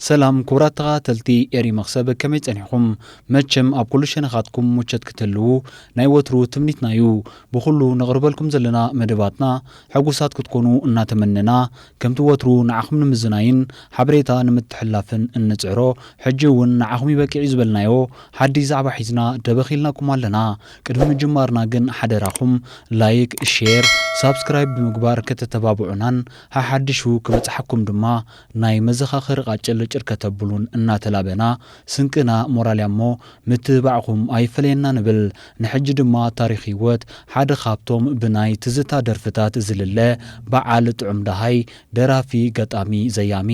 ሰላም ክቡራት ተኸታተልቲ ኤሪ መኽሰብ ከመይ ጸኒሕኹም መቸም ኣብ ኩሉ ሸነኻትኩም ሙቸት ክትህልዉ ናይ ወትሩ ትምኒትና ዩ ብኹሉ ነቕርበልኩም ዘለና መደባትና ሕጉሳት ክትኮኑ እናተመነና ከምቲ ወትሩ ንዓኹም ንምዝናይን ሓበሬታ ንምትሕልላፍን እንጽዕሮ ሕጂ ውን ንዓኹም ይበቅዕ ዩ ዝበልናዮ ሓድሽ ዛዕባ ሒዝና ደበኽ ኢልናኩም ኣለና ቅድሚ ምጅማርና ግን ሓደራኹም ላይክ ሼር ሳብስክራይብ ብምግባር ከተተባብዑናን ሓሓድሹ ክበጽሓኩም ድማ ናይ መዘኻኸሪ ቃጭል ጭር ከተብሉን እናተላበና ስንቅና ሞራልያሞ ምትብባዕኹም ኣይፈለየና ንብል። ንሕጂ ድማ ታሪኽ ህይወት ሓደ ካብቶም ብናይ ትዝታ ደርፍታት ዝልለ በዓል ጥዑም ደሃይ፣ ደራፊ፣ ገጣሚ፣ ዘያሚ፣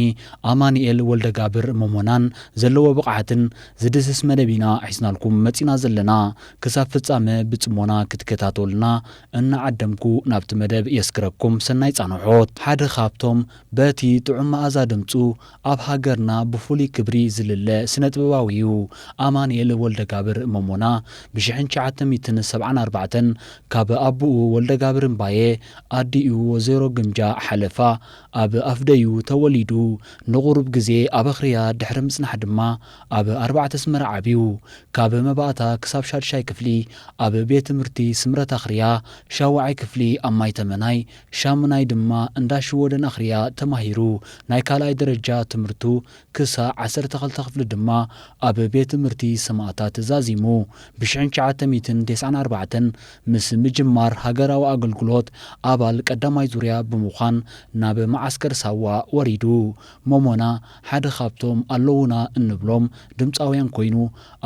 ኣማኒኤል ወልደጋብር ሞሞናን ዘለዎ ብቕዓትን ዝድህስስ መደብ ኢና ሒዝናልኩም መጺና ዘለና። ክሳብ ፍጻመ ብጽሞና ክትከታተሉና እናዓደምኩ ናብቲ መደብ የስግረኩም ሰናይ ጻንሖት። ሓደ ካብቶም በቲ ጥዑም መኣዛ ድምጹ ኣብ ሃገርና ብፍሉይ ክብሪ ዝልለ ስነጥበባዊ'ዩ ኣማንኤል ወልደጋብር ሞሞና ብ ሽሕን ትሽዓተ ሚእትን ሰብዓን ኣርባዕተን ካብ ኣቡኡ ወልደጋብር እምባየ ኣዲኡ ወዘሮ ግምጃ ሓለፋ ኣብ ኣፍደዩ ተወሊዱ ንቑሩብ ግዜ ኣብ ኣኽርያ ድሕሪ ምጽናሕ ድማ ኣብ ኣርባዕተ ኣስመራ ዓብዩ ካብ መባእታ ክሳብ ሻድሻይ ክፍሊ ኣብ ቤት ትምህርቲ ስምረት ኣኽርያ ሻውዓይ ክፍሊ ኣብ ማይተመናይ ሻሙናይ ድማ እንዳ ሽወደን ኣኽርያ ተማሂሩ። ናይ ካልኣይ ደረጃ ትምህርቱ ክሳዕ ዓሰርተ ክልተ ክፍሊ ድማ ኣብ ቤት ትምህርቲ ሰማእታት ዛዚሙ። ብሽሕን ትሽዓተ ሚእትን ተስዓን ኣርባዕተን ምስ ምጅማር ሃገራዊ ኣገልግሎት ኣባል ቀዳማይ ዙርያ ብምዃን ናብ መዓስከር ሳዋ ወሪዱ። ሞሞና ሓደ ካብቶም ኣለዉና እንብሎም ድምጻውያን ኮይኑ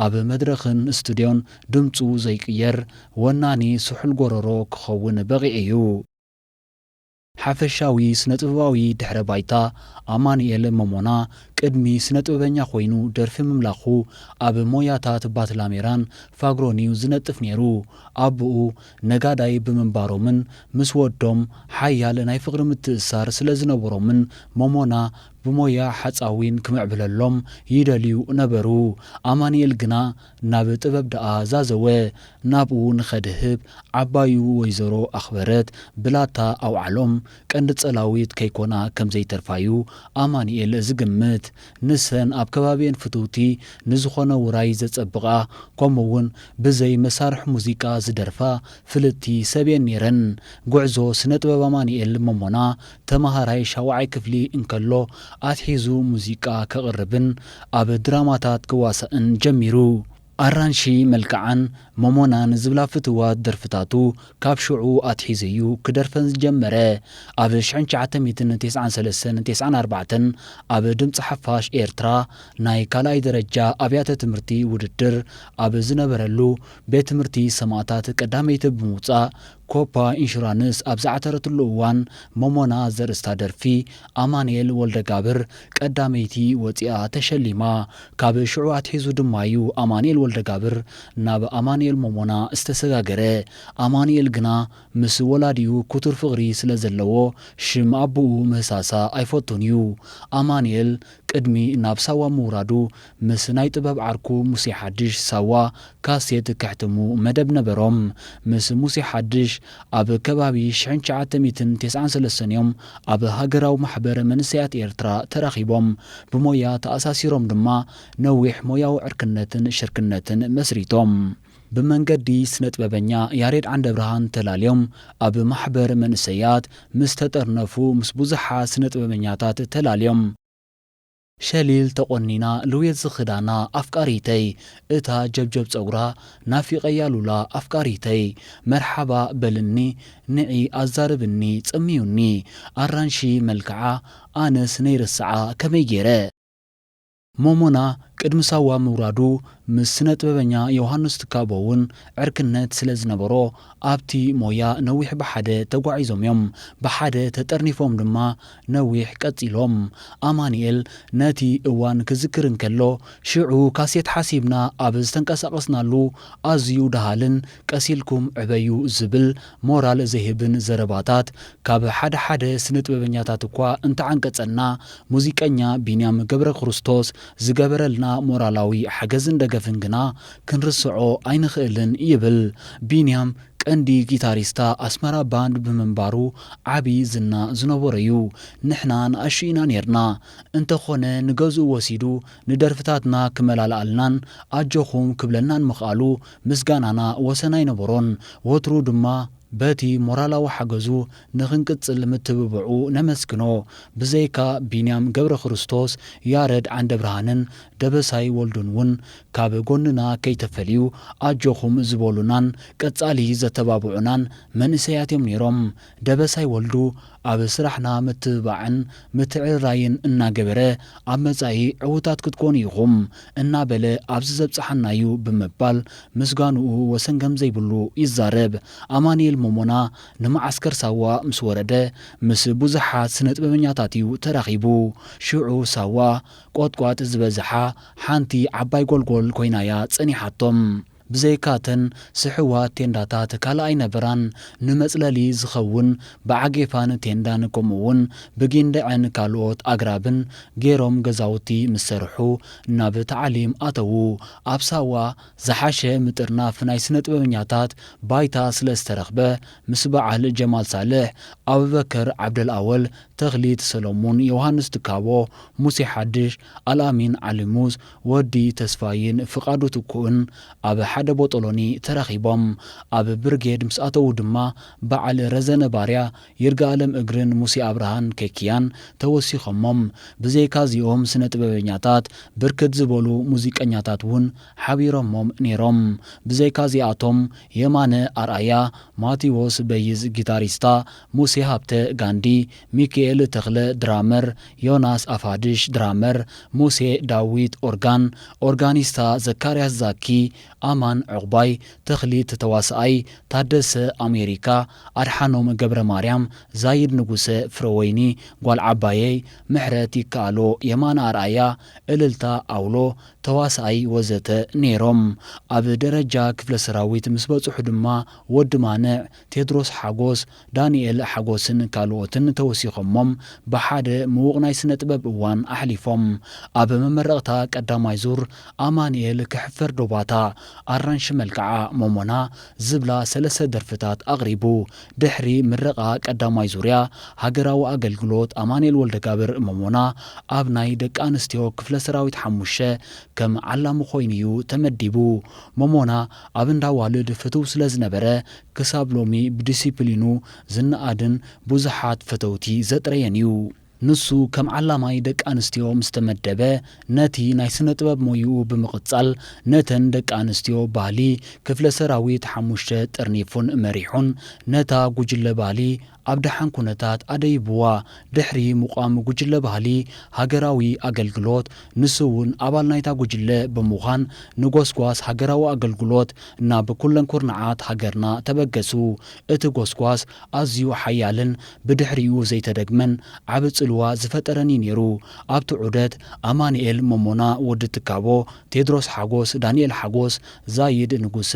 ኣብ መድረኽን ስቱድዮን ድምጹ ዘይቅየር ወናኒ ስሑል ጎረሮ ክኸውን በቒዑ እዩ። ሓፈሻዊ ስነጥበባዊ ድሕረ ባይታ ኣማኑኤል ሞሞና ቅድሚ ስነጥበበኛ ኮይኑ ደርፊ ምምላኹ ኣብ ሞያታት ባትላሜራን ፋግሮን'ዩ ዝነጥፍ ነይሩ። ኣቡኡ ነጋዳይ ብምንባሮምን ምስ ወዶም ሓያል ናይ ፍቕሪ ምትእስሳር ስለ ዝነበሮምን ሞሞና ብሞያ ሓጻዊን ክምዕብለሎም ይደልዩ ነበሩ። ኣማኑኤል ግና ናብ ጥበብ ደኣ ዛዘወ ናብኡ ንኸድህብ ዓባዩ ወይዘሮ ኣኽበረት ብላታ ኣውዓሎም። ቀንዲ ጸላዊት ከይኮና ከም ዘይተርፋ'ዩ ኣማኑኤል ዝግምት። ንሰን ኣብ ከባቢኤን ፍትውቲ ንዝኾነ ውራይ ዘጸብቓ ከምኡ'ውን ብዘይ መሳርሒ ሙዚቃ ዝደርፋ ፍልጥቲ ሰብ'የን ነይረን። ጉዕዞ ስነ-ጥበብ ኣማኑኤል ሞሞና ተመሃራይ ሻውዓይ ክፍሊ እንከሎ ኣትሒዙ ሙዚቃ ከቕርብን ኣብ ድራማታት ክዋሳእን ጀሚሩ። ኣራንሺ መልክዓን ሞሞናን ዝብላ ፍቱዋት ደርፍታቱ ካብ ሽዑ ኣትሒዙ'ዩ ክደርፈን ዝጀመረ። ኣብ ሽሕን ትሽዓተ ሚእትን ቴስዓን ሰለስተን ቴስዓን ኣርባዕተን ኣብ ድምጺ ሓፋሽ ኤርትራ ናይ ካልኣይ ደረጃ ኣብያተ ትምህርቲ ውድድር ኣብ ዝነበረሉ ቤት ትምህርቲ ሰማእታት ቀዳመይቲ ብምውጻእ ኮፓ ኢንሹራንስ ኣብ ዝዓተረትሉ እዋን ሞሞና ዘርእስታ ደርፊ ኣማንኤል ወልደጋብር ቀዳመይቲ ወጺኣ ተሸሊማ። ካብ ሽዑ ኣትሒዙ ድማ'ዩ ኣማንኤል ወልደጋብር ናብ ኣማንኤል ሞሞና ዝተሰጋገረ። ኣማንኤል ግና ምስ ወላዲኡ ክቱር ፍቕሪ ስለዘለዎ ሽም ኣቡኡ ምህሳሳ ኣይፈቱን'ዩ። ኣማንኤል ቅድሚ ናብ ሳዋ ምውራዱ ምስ ናይ ጥበብ ዓርኩ ሙሴ ሓድሽ፣ ሳዋ፣ ካሴት ከሕትሙ መደብ ነበሮም። ምስ ሙሴ ሓድሽ ኣብ ከባቢ ሽሕን ትሽዓተ ሚእትን ተስዓን ሰለስተን እዮም ኣብ ሃገራዊ ማሕበር መንእሰያት ኤርትራ ተራኺቦም። ብሞያ ተኣሳሲሮም ድማ ነዊሕ ሞያዊ ዕርክነትን ሽርክነትን መስሪቶም። ብመንገዲ ስነጥበበኛ ያሬድ ዓንደብርሃን ተላልዮም ኣብ ማሕበር መንእሰያት ምስ ተጠርነፉ ምስ ብዙሓት ስነጥበበኛታት ተላልዮም። ሸሊል ተቆኒና ልውየት ዝኽዳና ኣፍቃሪተይ እታ ጀብጀብ ጸጉራ ናፊቀያ ሉላ ኣፍቃሪተይ መርሓባ በልኒ ንዒ ኣዛርብኒ ጸምዩኒ ኣራንሺ መልክዓ ኣነስ ነይርስዓ ከመይ ጌረ ሞሞና ቅድሚ ሳዋ ምውራዱ ምስ ስነጥበበኛ ዮውሃንስ ትካቦ'ውን ዕርክነት ስለ ዝነበሮ ኣብቲ ሞያ ነዊሕ ብሓደ ተጓዒዞም'ዮም። ብሓደ ተጠርኒፎም ድማ ነዊሕ ቀጺሎም። ኣማኒኤል ነቲ እዋን ክዝክር እንከሎ፣ ሽዑ ካሴት ሓሲብና ኣብ ዝተንቀሳቐስናሉ ኣዝዩ ደሃልን ቀስ ኢልኩም ዕበዩ ዝብል ሞራል ዘይህብን ዘረባታት ካብ ሓደ ሓደ ስነጥበበኛታት እኳ እንተዓንቀጸና ሙዚቀኛ ቢንያም ገብረክርስቶስ ዝገበረልና ሞራላዊ ሓገዝን ደገፍን ግና ክንርስዖ ኣይንኽእልን ይብል ቢንያም ቀንዲ ጊታሪስታ ኣስመራ ባንድ ብምንባሩ ዓቢ ዝና ዝነበሮ'ዩ ንሕና ንኣሽቱ ኢና ኔርና እንተኾነ ንገዝኡ ወሲዱ ንደርፍታትና ክመላልኣልናን ኣጆኹም ክብለናን ምኽኣሉ ምስጋናና ወሰን ኣይነበሮን፣ ወትሩ ድማ በቲ ሞራላዊ ሓገዙ ንኽንቅጽል ምትብብዑ ነመስግኖ። ብዘይካ ቢንያም ገብረክርስቶስ፣ ያረድ ዓንደብርሃንን ደበሳይ ወልዱን ውን ካብ ጎንና ከይተፈልዩ ኣጆኹም ዝበሉናን ቀጻሊ ዘተባብዑናን መንእሰያት'ዮም ነይሮም። ደበሳይ ወልዱ ኣብ ስራሕና ምትብባዕን ምትዕርራይን እናገበረ ኣብ መፃኢ ዕውታት ክትኮኑ ኢኹም እናበለ ኣብዚ ዘብፀሓና ዩ ብምባል ምስጋንኡ ወሰን ከምዘይብሉ ይዛረብ። ኣማኒኤል ሞሞና ንመዓስከር ሳዋ ምስ ወረደ ምስ ብዙሓት ስነጥበበኛታት ዩ ተራኺቡ። ሽዑ ሳዋ ቆጥቋጥ ዝበዝሓ ሓንቲ ዓባይ ጎልጎል ኮይና'ያ ፀኒሓቶም። ብዘይካ እተን ስሑዋት ቴንዳታት ካልእ ኣይነበራን። ንመጽለሊ ዝኸውን ብዓጌፋን ቴንዳን ከምኡ'ውን ብጊንደዕን ካልኦት ኣግራብን ገይሮም ገዛውቲ ምስ ሰርሑ ናብ ታዕሊም ኣተዉ። ኣብ ሳዋ ዝሓሸ ምጥርናፍ ናይ ስነጥበበኛታት ባይታ ስለ ዝተረኽበ ምስ በዓል ጀማል ሳልሕ፣ ኣቡበከር ዓብደልኣወል፣ ተኽሊት ሰለሙን፣ ዮውሃንስ ትካቦ፣ ሙሴ ሓድሽ፣ ኣልኣሚን ዓሊሙዝ፣ ወዲ ተስፋይን ፍቃዱ ትኩእን ኣብ ሓደ ቦጦሎኒ ተራኺቦም ኣብ ብርጌድ ምስ ኣተዉ ድማ በዓል ረዘነ ባርያ፣ ይርጋኣለም እግርን ሙሴ ኣብርሃን፣ ኬክያን፣ ተወሲኾሞም። ብዘይካ እዚኦም ስነ ጥበበኛታት ብርክት ዝበሉ ሙዚቀኛታት ውን ሓቢሮሞም ኔሮም። ብዘይካ እዚኣቶም የማነ ኣርኣያ፣ ማቲዎስ በይዝ ጊታሪስታ፣ ሙሴ ሃብተ፣ ጋንዲ፣ ሚኪኤል ተኽለ፣ ድራመር፣ ዮናስ ኣፋድሽ፣ ድራመር፣ ሙሴ ዳዊት፣ ኦርጋን፣ ኦርጋኒስታ፣ ዘካርያስ ዛኪ፣ ኣማን ዑቕባይ፣ ተኽሊት ተዋሳኣይ፣ ታደሰ፣ ኣሜሪካ፣ ኣድሓኖም ገብረማርያም፣ ዛይድ ንጉሰ፣ ፍረወይኒ፣ ጓል ዓባየይ፣ ምሕረት ይከኣሎ፣ የማነ ኣርኣያ፣ እልልታ፣ ኣውሎ፣ ተዋሳኣይ፣ ወዘተ ነይሮም። ኣብ ደረጃ ክፍለ ሰራዊት ምስ በፅሑ ድማ ወዲ ማንዕ፣ ቴድሮስ ሓጎስ፣ ዳኒኤል ሓጎስን ካልኦትን ተወሲኾሞም ብሓደ ምዉቕ ናይ ስነ-ጥበብ እዋን ኣሕሊፎም። ኣብ መመረቕታ ቀዳማይ ዙር ኣማኒኤል ክሕፈር ዶ ባታ፣ ኣራንሺ መልክዓ፣ ሞሞና ዝብላ ሰለስተ ደርፍታት ኣቕሪቡ። ድሕሪ ምረቓ ቀዳማይ ዙርያ ሃገራዊ ኣገልግሎት ኣማኒኤል ወልደጋብር፣ ሞሞና፣ ኣብ ናይ ደቂ ኣንስትዮ ክፍለ ሰራዊት ሓሙሽተ ከም ዓላሚ ኮይኑ'ዩ ተመዲቡ። ሞሞና ኣብ እንዳ ኣዋልድ ፍቱው ስለዝነበረ ክሳብ ሎሚ ብዲሲፕሊኑ ዝነኣድን ብዙሓት ፈተውቲ ዘጥረየን እዩ። ንሱ ከም ዓላማይ ደቂ ኣንስትዮ ምስ ተመደበ ነቲ ናይ ስነ-ጥበብ ሞይኡ ብምቕጻል ነተን ደቂ ኣንስትዮ ባሊ ክፍለ ሰራዊት ሓሙሽተ ጥርኒፉን መሪሑን ነታ ጉጅለ ባሊ ኣብ ደሓን ኩነታት ኣደይብዋ። ድሕሪ ምቛም ጉጅለ ባህሊ ሃገራዊ ኣገልግሎት፣ ንሱ'ውን ኣባል ናይታ ጉጅለ ብምዃን ንጎስጓስ ሃገራዊ ኣገልግሎት ናብ ኩለን ኩርናዓት ሃገርና ተበገሱ። እቲ ጎስጓስ ኣዝዩ ሓያልን ብድሕሪኡ ዘይተደግመን ዓቢ ጽልዋ ዝፈጠረን እዩ ነይሩ። ኣብቲ ዑደት፣ ኣማንኤል ሞሞና፣ ወዲ ትካቦ፣ ቴድሮስ ሓጎስ፣ ዳንኤል ሓጎስ፣ ዛይድ ንጉሰ፣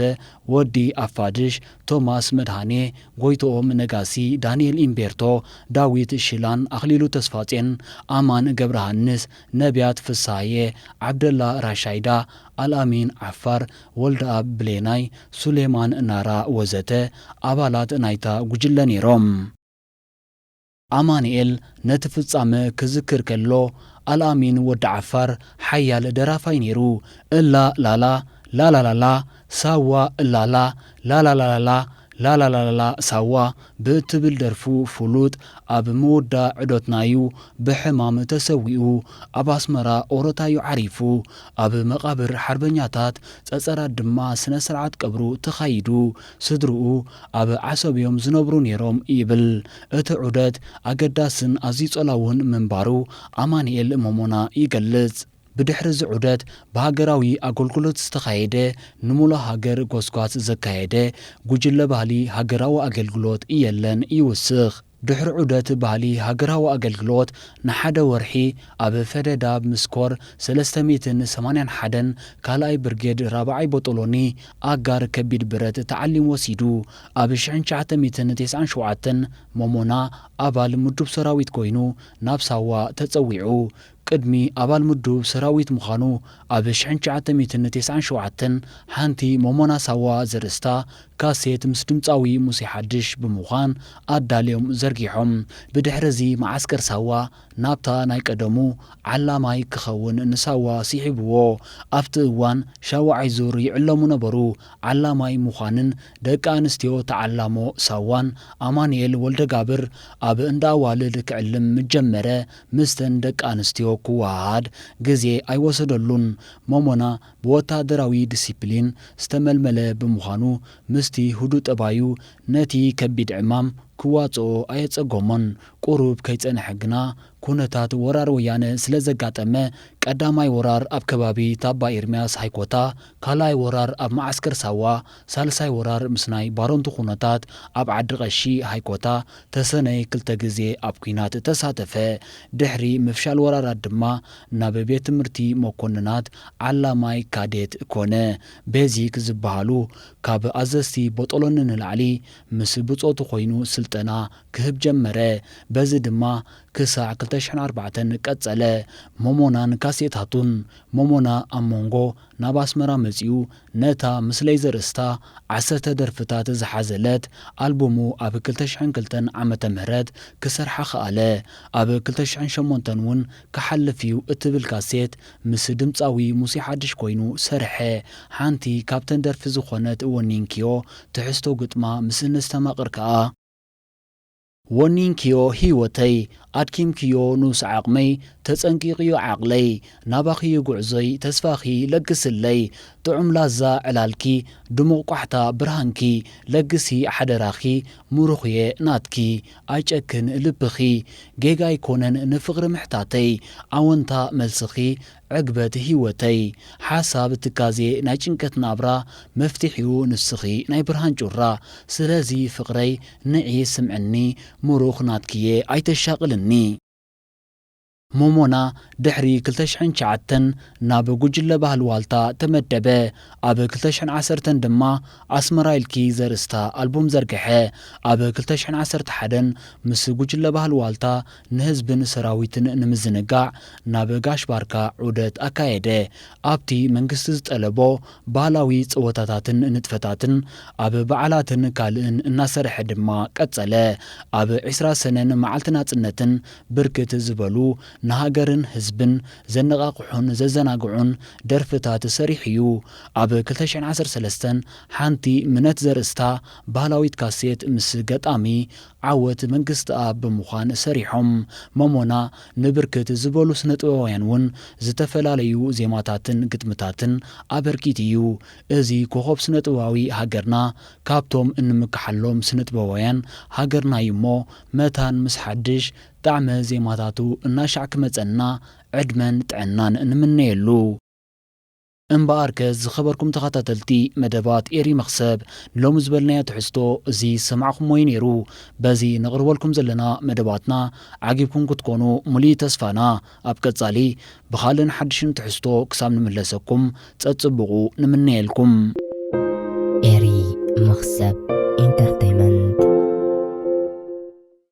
ወዲ ኣፋድሽ፣ ቶማስ መድሃኔ፣ ጎይትኦም ነጋሲ፣ ዳንኤል ኢምቤርቶ፣ ዳዊት ሽላን፣ ኣኽሊሉ ተስፋጼን፣ ኣማን ገብረሃንስ፣ ነብያት ፍስሃየ፣ ዓብደላ ራሻይዳ፣ ኣልኣሚን ዓፋር፣ ወልደኣብ ብሌናይ፣ ሱሌማን ናራ ወዘተ ኣባላት ናይታ ጉጅለ ነይሮም። ኣማኒኤል ነቲ ፍጻመ ክዝክር ከሎ ኣልኣሚን ወዲ ዓፋር ሓያል ደራፋይ ነይሩ እላ ላላ ላላላላ ሳዋ እላላ ላላላላላ ላላላላላ ሳዋ ብእትብል ደርፉ ፍሉጥ ኣብ ምውዳ ዕዶትና ዩ ብሕማም ተሰዊኡ ኣብ ኣስመራ ኦሮታ ዩ ዓሪፉ ኣብ መቃብር ሓርበኛታት ጸጸራት ድማ ስነ ስርዓት ቀብሩ ተኻይዱ ስድርኡ ኣብ ዓሰብ'ዮም ዝነብሩ ነይሮም ይብል። እቲ ዑደት ኣገዳስን ኣዝዩ ጸላውን ምንባሩ ኣማንኤል ሞሞና ይገልጽ። ብድሕሪ'ዚ ዑደት ብሃገራዊ ኣገልግሎት ዝተኻየደ ንሙሉእ ሃገር ጎስጓስ ዘካየደ ጉጅለ ባህሊ ሃገራዊ ኣገልግሎት የለን ይውስኽ። ድሕሪ ዑደት ባህሊ ሃገራዊ ኣገልግሎት ንሓደ ወርሒ ኣብ ፈደዳብ ምስ ኮር ሰለስተ ሚእትን ሰማንያን ሓደን ካልኣይ ብርጌድ ራብዓይ ቦጦሎኒ ኣጋር ከቢድ ብረት ታዕሊም ወሲዱ ኣብ ሽሕን ትሽዓተ ሚእትን ተስዓን ሸውዓተን ሞሞና ኣባል ምዱብ ሰራዊት ኮይኑ ናብ ሳዋ ተጸዊዑ ቅድሚ ኣባል ምዱብ ሰራዊት ምዃኑ ኣብ ሽሕን ትሽዓተ ሚእትን ተስዓን ሸውዓተን ሓንቲ ሞሞና ሳዋ ዘርእስታ ካሴት ምስ ድምጻዊ ሙሴ ሓድሽ ብምዃን ኣዳልዮም ዘርጊሖም። ብድሕር'ዚ መዓስከር ሳዋ ናብታ ናይ ቀደሙ ዓላማይ ክኸውን ንሳዋ ሲሒቡዎ። ኣብቲ እዋን ሻውዓይ ዙር ይዕለሙ ነበሩ። ዓላማይ ምዃንን ደቂ ኣንስትዮ ተዓላሞ ሳዋን ኣማኑኤል ወልደጋብር ኣብ እንዳ ኣዋልድ ክዕልም ምስ ጀመረ ምስተን ደቂ ኣንስትዮ ክወሃሃድ ግዜ ኣይወሰደሉን። ሞሞና ብወተሃደራዊ ዲሲፕሊን ዝተመልመለ ብምዃኑ፣ ምስቲ ህዱእ ጠባዩ ነቲ ከቢድ ዕማም ክዋጽኦ ኣየጸገሞን። ቁሩብ ከይጸንሐ ግና ኩነታት ወራር ወያነ ስለ ዘጋጠመ፣ ቀዳማይ ወራር ኣብ ከባቢ ታባ ኢርምያስ ሃይኮታ፣ ካልኣይ ወራር ኣብ መዓስከር ሳዋ፣ ሳልሳይ ወራር ምስ ናይ ባረንቱ ኩነታት ኣብ ዓዲ ቀሺ፣ ሃይኮታ፣ ተሰነይ ክልተ ግዜ ኣብ ኩናት ተሳተፈ። ድሕሪ ምፍሻል ወራራት ድማ ናብ ቤት ትምህርቲ መኮንናት ዓላማይ ካዴት ኮነ። ቤዚክ ዝበሃሉ ካብ ኣዘዝቲ ቦጦሎኒ ንላዕሊ ምስ ብጾቱ ኮይኑ ስልጠና ክህብ ጀመረ። በዚ ድማ ክሳዕ ክልተ ሽሕን ኣርባዕተን ቀጸለ። ሞሞናን ካሴታቱን። ሞሞና ኣብ ሞንጎ ናብ ኣስመራ መጺኡ ነታ ምስለይ ዘርእስታ ዓሰርተ ደርፍታት ዝሓዘለት ኣልቡሙ ኣብ ክልተ ሽሕን ክልተን ዓመተ ምህረት ክሰርሓ ከኣለ። ኣብ ክልተ ሽሕን ሸሞንተን እውን ክሓልፍ እዩ እትብል ካሴት ምስ ድምጻዊ ሙሴ ሓድሽ ኮይኑ ሰርሐ። ሓንቲ ካብተን ደርፊ ዝኾነት ወኒንክዮ ትሕዝቶ ግጥማ ምስ እነስተማቕር ከኣ፣ ወኒንክዮ ሂወተይ ኣድኪምክዮ ኑብሲ ዓቅመይ ተጸንቂቅዩ ዓቅለይ ናባኺዩ ጉዕዞይ ተስፋኺ ለግስለይ ጥዑም ላዛ ዕላልኪ ድሙቅ ቋሕታ ብርሃንኪ ለግሲ ሓደራኺ ሙሩኽየ ናትኪ ኣይጨክን ልብኺ ጌጋ ኣይኮነን ንፍቅሪ ምሕታተይ ኣወንታ መልስኺ ዕግበት ሂወተይ ሓሳብ ትካዜ ናይ ጭንቀት ናብራ መፍቲሒኡ ንስኺ ናይ ብርሃን ጩራ ስለዚ ፍቅረይ ንዒ ስምዕኒ ሙሩኽ ናትኪየ ኣይተሻቅልኒ። ሞሞና ድሕሪ ክልተ ሽሕን ትሽዓተን ናብ ጉጅለ ባህሊ ዋልታ ተመደበ። ኣብ ክልተ ሽሕን ዓሰርተን ድማ ኣስመራ ኢልኪ ዘርእስታ ኣልቡም ዘርገሐ። ኣብ ክልተ ሽሕን ዓሰርተ ሓደን ምስ ጉጅለ ባህሊ ዋልታ ንህዝብን ሰራዊትን ንምዝንጋዕ ናብ ጋሽ ባርካ ዑደት ኣካየደ። ኣብቲ መንግስቲ ዝጠለቦ ባህላዊ ጸወታታትን ንጥፈታትን ኣብ በዓላትን ካልእን እናሰርሐ ድማ ቀጸለ። ኣብ ዕስራ ሰነን መዓልቲ ናጽነትን ብርክት ዝበሉ ንሃገርን ህዝብን ዘነቓቕሑን ዘዘናግዑን ደርፍታት ሰሪሑ'ዩ። ኣብ ክልተ ሽሕን ዓሰርተ ሰለስተን ሓንቲ ምነት ዘርእስታ ባህላዊት ካሴት ምስ ገጣሚ ዓወት መንግስትኣብ ብምዃን ሰሪሖም። ሞሞና ንብርክት ዝበሉ ስነጥበባውያን እውን ዝተፈላለዩ ዜማታትን ግጥምታትን ኣበርኪቱ እዩ። እዚ ኮኾብ ስነጥበባዊ ሃገርና ካብቶም እንምከሓሎም ስነጥበባውያን ሃገርና እዩ እሞ መታን ምስ ሓድሽ ጣዕመ ዜማታቱ እናሻዕ ክመጸና ዕድመን ጥዕናን ንምነየሉ። እምበኣርከ ዝኸበርኩም ተኸታተልቲ መደባት ኤሪ መኽሰብ ንሎሚ ዝበልናዮ ትሕዝቶ እዚ ዝሰማዕኹምዎ እዩ ነይሩ። በዚ ነቕርበልኩም ዘለና መደባትና ዓጊብኩም ክትኮኑ ሙሉኢ ተስፋና። ኣብ ቀጻሊ ብኻልእን ሓድሽን ትሕዝቶ ክሳብ ንምለሰኩም ጸጽቡቑ ንምነየልኩም። ኤሪ መኽሰብ ኢንተርተይመንት።